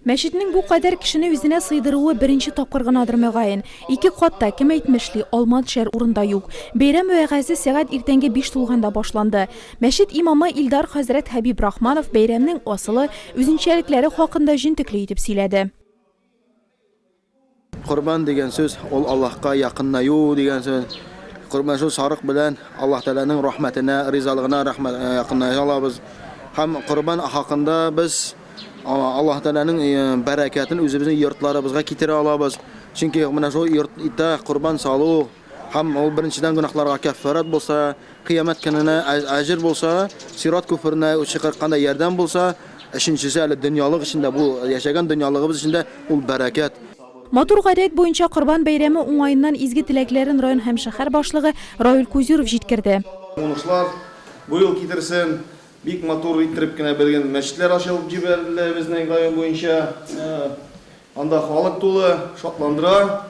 Мәчетнең бу кадәр кешене үзенә сыйдыруы беренче тапкыр гынадыр, мөгаен. Ике катта, кем әйтмешли, алма төшәр урын да юк. Бәйрәм вәгазье сәгать иртәнге биш тулганда башланды. Мәчет имамы Илдар хәзрәт Хәбибрахманов бәйрәмнең асылы, үзенчәлекләре хакында җентекле итеп сөйләде. Корбан дигән сүз, ул Аллаһка якыннаю дигән сүз. Корбан шул сарык белән Аллаһ Тәгаләнең рәхмәтенә, ризалыгына якынная алабыз. Һәм корбан хакында без Аллаһ Тәгаләнең бәрәкәтен үзебезнең йортларыбызга китерә алабыз. Чөнки менә шул йортта корбан салу, Һәм ул беренчедән гөнаһларга кәффарәт булса, кыямәт көненә әҗер булса, сират күперенә чыкканда ярдәм булса, өченчесе әле дөньялык өчен дә, бу яшәгән дөньялыгыбыз өчен дә ул бәрәкәт. Матур гадәт буенча Корбан бәйрәме уңаеннан изге теләкләрен район һәм шәһәр башлыгы Раил Кузюров җиткерде. Уңышлар бу ел китерсен. Бик матур иттереп кенә бер генә мәчетләр ачылып җибәрелде безнең район буенча. Анда халык тулы, шатландыра.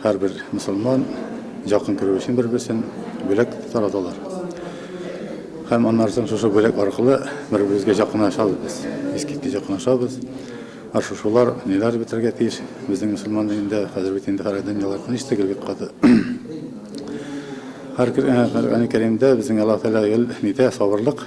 Һәрбер мөселман якын күрү өчен бер-берсен бүләк тараталар. Һәм аннан соң шушы бүләк аркылы бер-беребезгә якынлашабыз без. Искиткеч якынлашабыз. Ә шушылар ниләр бетергә тиеш? Безнең мөселман динендә хәзер бит инде һәр дөньялар тыныч түгел бик каты. Һәр Коръән-Кәримдә безнең Аллаһ Тәгалә гел нитә? Сабырлык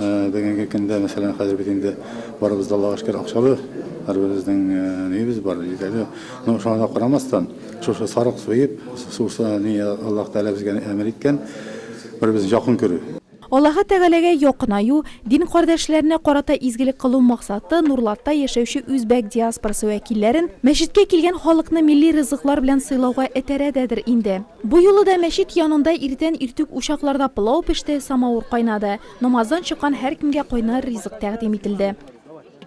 Бүгенге көндә, мәсәлән, хәзер бит инде барыбыз да Аллага шөкер акчалы, һәрберебезнең нибез бар, җитәле. Ну, шуңа да карамастан, шушы сарык суеп, суса ни Аллаһ Тәгалә безгә әмер иткән, бер-беребезне якын күрү. Аллаһы Тәгаләгә якынаю, дин кардәшләренә карата изгелек кылу максаты Нурлатта яшәүче үзбәк диаспорасы вәкилләрен мәчеткә килгән халыкны милли ризыклар белән сыйлауга этәрә дәдер инде. Бу юлы да мәчет янында иртән иртүк учакларда пылау пеште, самавыр кайнады. Намаздан чыккан һәркемгә кайнар ризык тәкъдим ителде.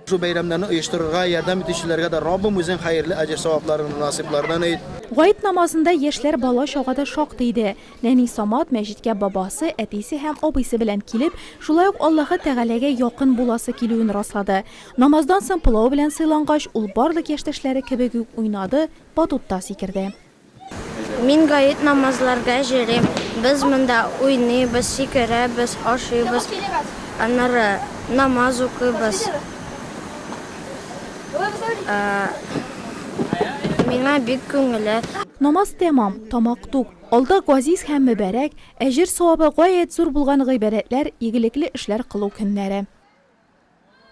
Шул бәйрәмнәрне оештырырга ярдәм итүчеләргә дә Раббым үзең хәерле әҗер-савапларыңны насыйплардан ит. Гает намазында яшьләр бала-чага да шактый иде. Нәни Самат мәчеткә бабасы, әтисе һәм абыйсы белән килеп, шулай ук Аллаһы Тәгаләгә якын буласы килүен раслады. Намаздан соң пылау белән сыйлангач, ул барлык яшьтәшләре кебек үк уйнады, батутта сикерде. Мин гает намазларга җөрим, без монда уйныйбыз, сикерәбез, ашыйбыз, аннары намаз укыйбыз. Миңа бик күңелле. Намаз тәмам, тамак тук. Алда газиз һәм мөбарәк, әҗер-савабы гаять зур булган гыйбадәтләр, игелекле эшләр кылу көннәре.